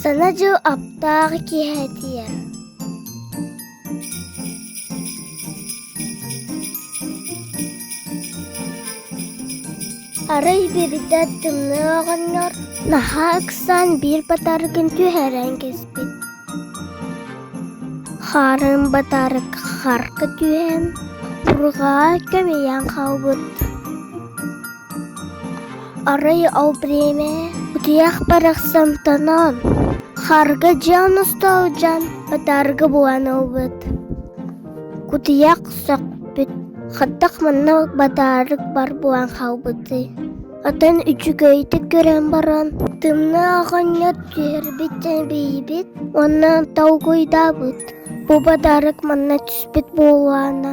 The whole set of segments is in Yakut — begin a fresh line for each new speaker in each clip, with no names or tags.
Сана дьыл аптаах киһи этиэ Арый бэбитэ тымныы оҕонньор наһаа ыксаан биир батаргын түһэрэн кэспит Хаарын батарык харка түһэн урҕаа көмүйэн хаалбыт Арай ол бэриэмэ утуйах барахсан тонон, харга дьон устуу дьон утаарга буолан ылбыт. Кутуйах сөхпүт, хаттах манна батаарык бар буолан хаалбыт дии. Атын үчүгэйдик көрөн баран, тымныы оҕонньор түһэрбит эбийбит, онно толкуйдаабыт. Бу батаарык манна түспүт буоллаана.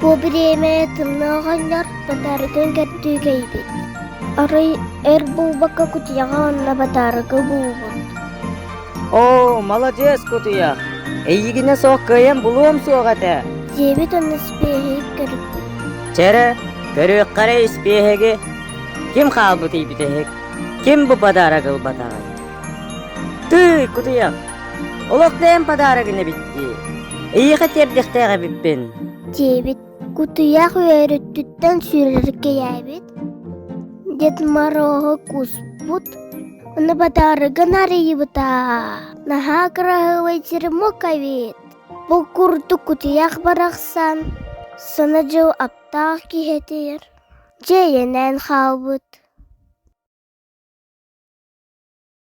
Бу бириэмэ тымныы оҕонньор батаарытын көрдүүгэ эбит Арый эр буубакка кутуйаҕа уонна батаарыгы буубут
Оо, маладьыас кутуйах Эйигинэ суох кыайан булуом суох этэ диэбит уонна
испиэһи көрүппүт Чэрэ,
көрүөххэ эрэ испиэһэги Ким хаалбыт ийбит эһик Ким бу подарок ылбатаҕай Тыый, кутуйах Олохтоон подарок эбит дии. Эйиэхэ тиэрдиэхтээх эбиппин. Диэбит.
Кутуйах үөрүттүттэн сүүрэркэйээбит. Дед Морооһу кууспут. Оны подарогын арыйбыта. Наһаа кыраһыабай черемок эбит. Бу курдук кутуйах барахсан, сана дьыл аптаах киһитир. Дьэйэнэн хаалбыт.